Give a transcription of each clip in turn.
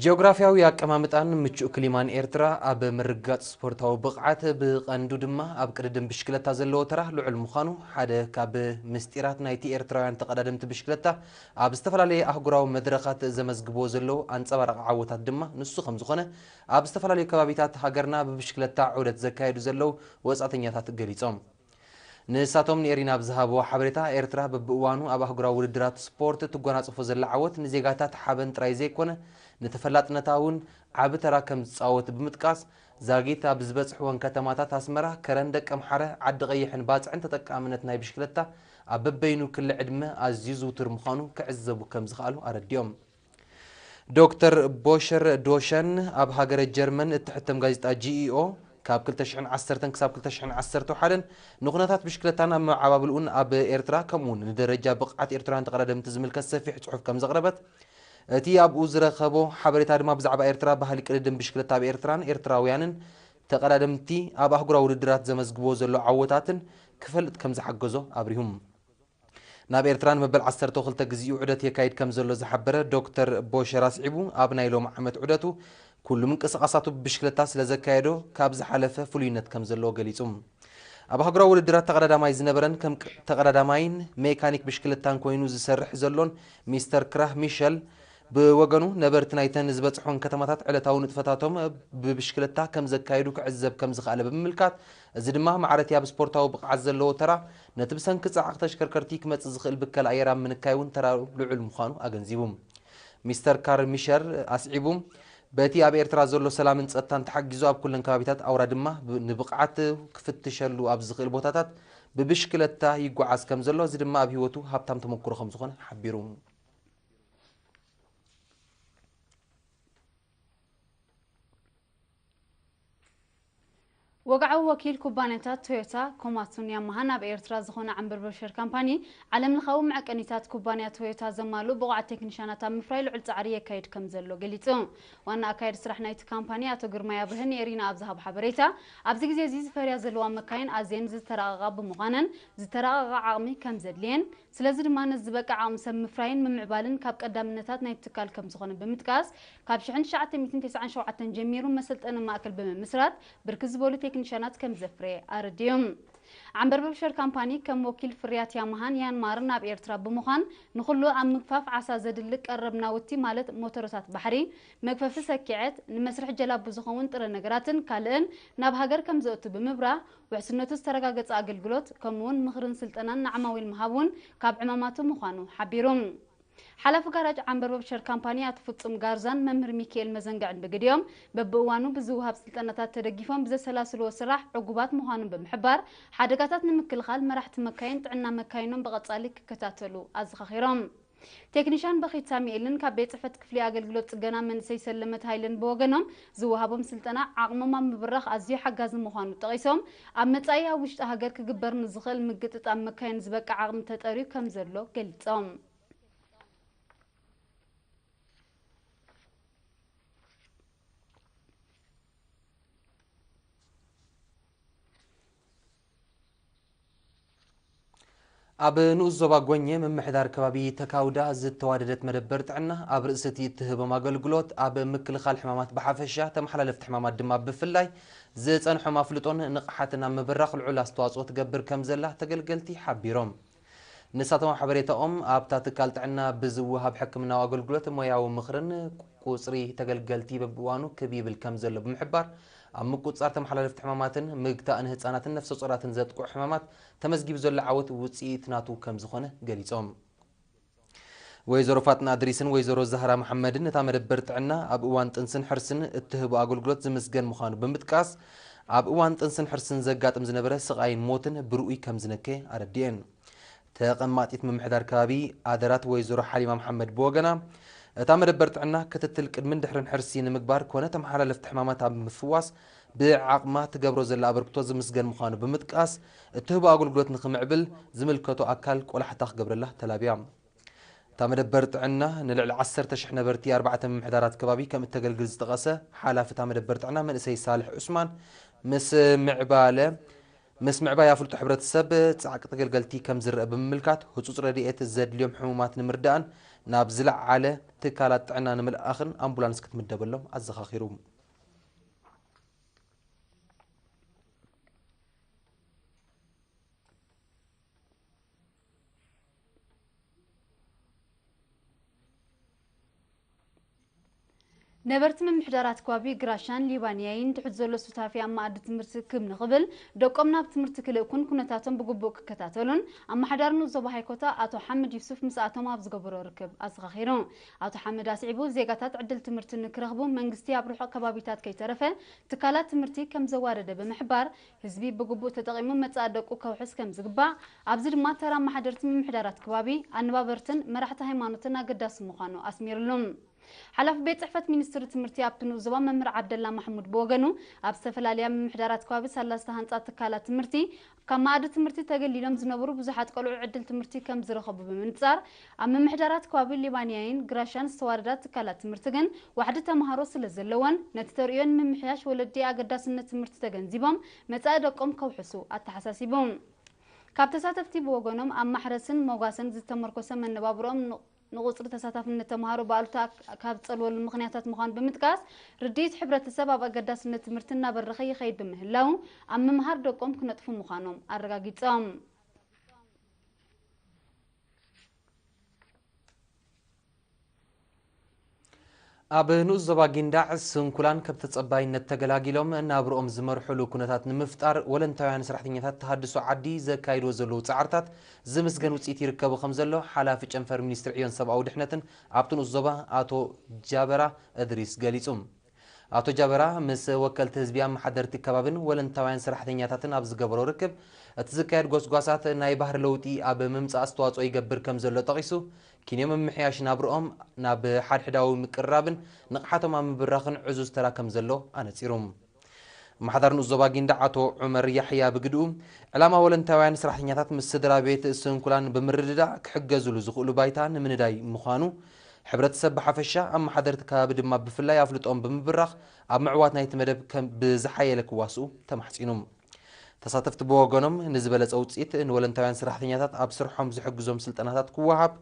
ጂኦግራፍያዊ ኣቀማምጣን ምቹእ ክሊማን ኤርትራ ኣብ ምርግጋጽ ስፖርታዊ ብቕዓት ብቐንዱ ድማ ኣብ ቅድድም ብሽክለታ ዘለዎ ተራ ልዑል ምዃኑ ሓደ ካብ ምስጢራት ናይቲ ኤርትራውያን ተቐዳደምቲ ብሽክለታ ኣብ ዝተፈላለየ ኣህጉራዊ መድረኻት ዘመዝግብዎ ዘለዉ ኣንጸባራቒ ዓወታት ድማ ንሱ ከም ዝኾነ ኣብ ዝተፈላለዩ ከባቢታት ሃገርና ብብሽክለታ ዑደት ዘካየዱ ዘለዉ ወጻእተኛታት ገሊጾም። ንሳቶም ንኤሪና ኣብ ዝሃብዎ ሓበሬታ፣ ኤርትራ በብእዋኑ ኣብ ኣህጉራዊ ውድድራት ስፖርት እትጓናጸፎ ዘላ ዓወት ንዜጋታት ሓበን ጥራይ ዘይኮነ ንተፈላጥነታ'ውን ዓቢ ተራ ከምዝጻወት ብምጥቃስ፣ ዛጊት ኣብ ዝበጽሕወን ከተማታት ኣስመራ፣ ከረን፣ ደቀምሓረ፣ ዓዲቐይሕን ባጽዕን ተጠቃምነት ናይ ብሽክለታ ኣብ በበይኑ ክሊ ዕድመ ኣዝዩ ዝውቱር ምዃኑ ክዕዘቡ ከምዝኸኣሉ ኣረዲኦም። ዶክተር ቦሸር ዶሸን ኣብ ሃገረ ጀርመን እትሕተም ጋዜጣ GEO ካብ ክልተ ሽሕን ዓሰርተን ክሳብ ክልተ ሽሕን ዓሰርተ ሓደን ንኩነታት ብሽክለታን ኣመዓባብልኡን ኣብ ኤርትራ ከምኡ'ውን ንደረጃ ብቕዓት ኤርትራውያን ተቐዳደምቲ ዝምልከት ሰፊሕ ጽሑፍ ከም ዘቕረበት እቲ ኣብኡ ዝረኸቦ ሓበሬታ ድማ ብዛዕባ ኤርትራ ባህሊ ቅድድም ብሽክለታ ኣብ ኤርትራን ኤርትራውያንን ተቐዳደምቲ ኣብ ኣህጉራዊ ውድድራት ዘመዝግብዎ ዘሎ ዓወታትን ክፈልጥ ከም ዝሓገዞ ኣብሪሁ። ናብ ኤርትራ ንመበል ዓሰርተው ክልተ ግዚኡ ዑደት የካይድ ከምዘሎ ዝሓበረ ዶክተር ቦሸራ ኣስዒቡ ኣብ ናይ ሎሚ ዓመት ዑደቱ ኩሉ ምንቅስቓሳቱ ብብሽክለታ ስለዘካየዶ ካብ ዝሓለፈ ፍሉይነት ከምዘለዎ ገሊጹ። ኣብ ኣህጉራዊ ውድድራት ተቐዳዳማይ ዝነበረን ከም ተቐዳዳማይን ሜካኒክ ብሽክለታን ኮይኑ ዝሰርሕ ዘሎን ሚስተር ክራህ ሚሸል ብወገኑ ነበርቲ ናይተን ዝበጽሖን ከተማታት ዕለታዊ ንጥፈታቶም ብብሽክለታ ከምዘካይዱ ክዕዘብ ከምዝኸኣለ ብምምልካት እዚ ድማ ማዕረቲ ኣብ ስፖርታዊ ብቕዓት ዘለዎ ተራ፣ ነቲ ብሰንኪ ጻዕቒ ተሽከርከርቲ ክመጽእ ዝኽእል ብከላ ኣየር ኣብ ምንካይ እውን ተራኡ ልዑል ምዃኑ ኣገንዚቡ። ሚስተር ካርል ሚሸር ኣስዒቡ፣ በቲ ኣብ ኤርትራ ዘሎ ሰላምን ጸጥታን ተሓጊዙ ኣብ ኩለን ከባቢታት ኣውራ ድማ ንብቕዓት ክፍትሸሉ ኣብ ዝኽእል ቦታታት ብብሽክለታ ይጓዓዝ ከም ዘሎ፣ እዚ ድማ ኣብ ህይወቱ ሃብታም ተመኩሮ ከም ዝኾነ ሓቢሩ። ወግዓዊ ወኪል ኩባንያታት ቶዮታ፣ ኮማትሱን ያማሃን ኣብ ኤርትራ ዝኾነ ዓምብርብር ሸር ካምፓኒ፣ ዓለምለኻዊ መዐቀኒታት ኩባንያ ቶዮታ ዘማልኡ ብቑዓት ቴክኒሻናት ኣብ ምፍራይ ልዑል ጻዕሪ የካይድ ከምዘሎ ገሊጹ። ዋና ኣካያዲ ስራሕ ናይቲ ካምፓኒ ኣቶ ግርማይ ኣብርሀ ንኤሪና ኣብ ዝሃቦ ሓበሬታ፣ ኣብዚ ግዜ'ዚ ዝፈርያ ዘለዋ መካይን ኣዝየን ዝተራቐቓ ብምዃነን ዝተራቐቐ ዓቕሚ ከምዘድልየን፣ ስለዚ ድማ ነዚ ዝበቅዕ ዓቕሚ ሰብ ምፍራይን ምምዕባልን ካብ ቀዳምነታት ናይቲ ትካል ከምዝኾነ ብምጥቃስ፣ ካብ ሽሕን ትሽዓተ ሚእትን ተስዓን ሸውዓተን ጀሚሩ መሰልጠኒ ማእከል ብምምስራት ብርክት ዝበሉ ቴክኒሻናት ከምዘፍረየ ኣረዲኡ። ዓምበርበብ ሸር ካምፓኒ ከም ወኪል ፍርያት ያማሃን ያንማርን ኣብ ኤርትራ ብምዃን ንኹሉ ኣብ ምግፋፍ ዓሳ ዘድሊ ቀረብ ናውቲ ማለት ሞቶሮታት ባሕሪ፣ መግፈፊ ሰኪዐት፣ ንመስርሒ ጀላቡ ዝኸውን ጥረ ነገራትን ካልእን ናብ ሃገር ከምዘእቱ ብምብራህ፣ ውሕስነቱ ዝተረጋገፀ ኣገልግሎት ከምኡ እውን ምኽርን ስልጠናን ንዓማዊል ምሃብ እውን ካብ ዕማማቱ ምዃኑ ሓቢሩ። ሓላፊ ጋራጅ ዓምበርበብ ሸር ካምፓኒ ኣቶ ፍፁም ጋርዛን መምህር ሚኪኤል መዘንግዕን ብግዲኦም፣ በቢእዋኑ ብዝወሃብ ስልጠናታት ተደጊፎም ብዘሰላስልዎ ስራሕ ዕጉባት ምዃኖም ብምሕባር፣ ሓደጋታት ንምክልኻል መራሕቲ መካይን ጥዕና መካይኖም ብቐፃሊ ክከታተሉ ኣዘኻኺሮም። ቴክኒሻን በኺት ሳሚኤልን ካብ ቤት ፅሕፈት ክፍሊ ኣገልግሎት ፅገና መንእሰይ ሰለመት ሃይለን ብወገኖም፣ ዝወሃቦም ስልጠና ዓቕሞም ኣብ ምብራኽ ኣዝዩ ሓጋዚ ምዃኑ ጠቒሶም፣ ኣብ መፃኢ ኣብ ውሽጢ ሃገር ክግበር ንዝኽእል ምግጥጣም መካይን ዝበቅዕ ዓቕሚ ተጠርዩ ከምዘሎ ገሊፆም። ኣብ ንኡስ ዞባ ጎኘ ምምሕዳር ከባቢ ተካውዳ ዝተዋደደት መደበር ጥዕና ኣብ ርእሲ እቲ እትህቦም ኣገልግሎት ኣብ ምክልኻል ሕማማት ብሓፈሻ ተመሓላለፍቲ ሕማማት ድማ ብፍላይ ዝጸንሖም ኣፍልጦን ንቕሓትን ኣብ ምብራኽ ልዑል ኣስተዋጽኦ ትገብር ከም ዘላ ተገልገልቲ ሓቢሮም። ንሳቶም ኣብ ሓበሬታኦም፣ ኣብታ ትካል ጥዕና ብዝወሃብ ሕክምናዊ ኣገልግሎት ሞያዊ ምኽርን ቁጽሪ ተገልገልቲ በብእዋኑ ክብ ይብል ከምዘሎ ብምሕባር፣ ኣብ ምቁጽጻር ተመሓላለፍቲ ሕማማትን ምግታእ ንህጻናትን ነፍሰጾራትን ዘጥቅዑ ሕማማት ተመዝጊቡ ዘሎ ዓወት ውጽኢት ናቱ ከምዝኾነ ገሊጾም። ወይዘሮ ፋጥና እድሪስን ወይዘሮ ዛህራ መሓመድን እታ መደበር ጥዕና ኣብ እዋን ጥንስን ሕርስን እትህቦ ኣገልግሎት ዝምስገን ምዃኑ ብምጥቃስ፣ ኣብ እዋን ጥንስን ሕርስን ዘጋጥም ዝነበረ ስቓይን ሞትን ብርኡይ ከምዝነከ ኣረዲኤን። ተቐማጢት ምምሕዳር ከባቢ ኣደራት ወይዘሮ ሓሊማ መሓመድ ብወገና፣ እታ መደበር ጥዕና ክትትል ቅድምን ድሕርን ሕርሲ ንምግባር ኮነ ተመሓላለፍቲ ሕማማት ኣብ ምፍዋስ ብዓቕማ ትገብሮ ዘላ ኣበርክቶ ዝምስገን ምዃኑ ብምጥቃስ፣ እትህቦ ኣገልግሎት ንኽምዕብል ዝምልከቶ ኣካል ቆላሕታ ክገብረላ ተላብያ። እታ መደበር ጥዕና፣ ንልዕሊ ዓሰርተ ሽሕ ነበርቲ ኣርባዕተ ምምሕዳራት ከባቢ ከም እተገልግል ዝጠቐሰ ሓላፊ እታ መደበር ጥዕና መንእሰይ ሳልሕ ዑስማን፣ ምስ ምዕባለ ምስ ምዕባይ ኣፍልጦ ሕብረተሰብ፣ ጻዕቂ ተገልገልቲ ከም ዝረኣ ብምምልካት፣ ህጹጽ ረድኤት ዘድልዮም ሕሙማት ንምርዳእን ናብ ዝለዓለ ትካላት ጥዕና ንምልኣኽን ኣምቡላንስ ክትምደበሎም ኣዘኻኺሩ። ነበርቲ ምምሕዳራት ኳቢ ግራሻን ሊባንያይን ትሑት ዘሎ ሱታፊ ኣብ መኣዲ ትምህርቲ ክብ ንኽብል ደቆም ናብ ትምህርቲ ክልእኩን ኩነታቶም ብግቡእ ክከታተሉን ኣመሓዳሪ ንኡስ ዞባ ሃይኮታ ኣቶ ሓምድ ዩሱፍ ምስኣቶም ኣብ ዝገበሮ ርክብ ኣዘኻኺሩ ኣቶ ሓምድ ኣስዒቡ፣ ዜጋታት ዕድል ትምህርቲ ንክረኽቡ መንግስቲ ኣብ ርሑቕ ከባቢታት ከይተረፈ ትካላት ትምህርቲ ከምዘዋደደ ብምሕባር፣ ህዝቢ ብግቡእ ተጠቒሙ መጻኢ ደቁ ከውሕስ ከምዝግባእ፣ ኣብዚ ድማ ተራ ኣመሓደርቲ ምምሕዳራት ክባቢ፣ ኣነባበርትን መራሕቲ ሃይማኖትን ኣገዳሲ ምዃኑ ኣስሚርሉ። ሓላፊ ቤት ጽሕፈት ሚኒስትሪ ትምህርቲ ኣብቲ ንኡስ ዞባ መምህር ዓብደላ ማሕሙድ ብወገኑ፣ ኣብ ዝተፈላለያ ምምሕዳራት ክባቢ ሰላስተ ሃንጻ ትካላት ትምህርቲ ካብ መኣዲ ትምህርቲ ተገሊሎም ዝነበሩ ብዙሓት ቆልዑ ዕድል ትምህርቲ ከም ዝረኸቡ ብምንጻር፣ ኣብ ምምሕዳራት ከባቢ ሊባንያይን ግራሻን ዝተዋደዳ ትካላት ትምህርቲ ግን ዋሕዲ ተመሃሮ ስለ ዘለወን፣ ነቲ ተርእዮ ንምምሕያሽ ወለዲ ኣገዳስነት ትምህርቲ ተገንዚቦም መጻኢ ደቆም ከውሕሱ ኣተሓሳሲቡ። ካብ ተሳተፍቲ ብወገኖም ኣብ ማሕረስን ሞጓሰን ዝተመርኮሰ መነባብሮኦም ን። ንቑጽሪ ተሳታፍነት ተመሃሮ ብኣሉታ ካብ ዝጸልወሉ ምኽንያታት ምዃኑ ብምጥቃስ፣ ርድኢት ሕብረተሰብ ኣብ ኣገዳስነት ትምህርቲ እናበረኸ ይኸይድ ብምህላዉ፣ ኣብ ምምሃር ደቆም ክነጥፉ ምዃኖም ኣረጋጊጾም። ኣብ ንኡስ ዞባ ጊንዳዕ ስንኩላን ከብ ተፀባይነት ተገላጊሎም ናብርኦም ዝመርሑሉ ኩነታት ንምፍጣር ወለንታውያን ሰራሕተኛታት ተሃድሶ ዓዲ ዘካይድዎ ዘለዉ ፃዕርታት ዝምስገን ውፅኢት ይርከቡ ከምዘሎ ሓላፊ ጨንፈር ሚኒስትሪ ዕዮን ሰብኣዊ ድሕነትን ኣብቲ ንኡስ ዞባ ኣቶ ጃበራ እድሪስ ገሊፁ። ኣቶ ጃበራ ምስ ወከልቲ ህዝቢ ኣመሓደርቲ ከባብን ወለንታውያን ሰራሕተኛታትን ኣብ ዝገበሮ ርክብ፣ እቲ ዝካየድ ጎስጓሳት ናይ ባህሪ ለውጢ ኣብ ምምፃእ ኣስተዋፅኦ ይገብር ከምዘሎ ጠቒሱ፣ ኪንዮ ምምሕያሽ ናብርኦም ናብ ሓድሕዳዊ ምቅርራብን ንቕሓቶም ኣብ ምብራኽን ዕዙዝ ተራ ከምዘሎ ኣነፂሩ። ኣመሓዳሪ ንኡስ ዞባ ጊንዳዕ ኣቶ ዑመር ያሕያ ብግድኡ፣ ዕላማ ወለንታውያን ሰራሕተኛታት ምስ ስድራ ቤት ስንኩላን ብምርድዳእ ክሕገዙሉ ዝኽእሉ ባይታ ንምንዳይ ምዃኑ ሕብረተሰብ ብሓፈሻ ኣመሓደርቲ ከባቢ ድማ ብፍላይ ኣፍልጦኦም ብምብራኽ ኣብ ምዕዋት ናይቲ መደብ ከም ብዝሓየለ ክዋስኡ ተማሕጺኑ። ተሳተፍቲ ብወገኖም ንዝበለጸ ውጽኢት ንወለንታውያን ስራሕተኛታት ኣብ ስርሖም ዝሕግዞም ስልጠናታት ክወሃብ፣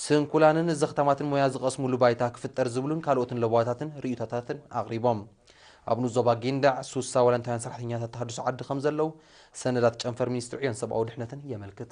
ስንኩላንን ዘኽታማትን ሞያ ዝቐስሙሉ ባይታ ክፍጠር ዝብሉን ካልኦትን ለበዋታትን ርእይቶታትን ኣቕሪቦም። ኣብ ንኡስ ዞባ ጊንዳዕ ሱሳ ወለንታውያን ሰራሕተኛታት ተሃድሶ ዓዲ ከምዘለዉ ሰነዳት ጨንፈር ሚኒስትሪ ዕዮን ሰብኣዊ ድሕነትን የመልክት።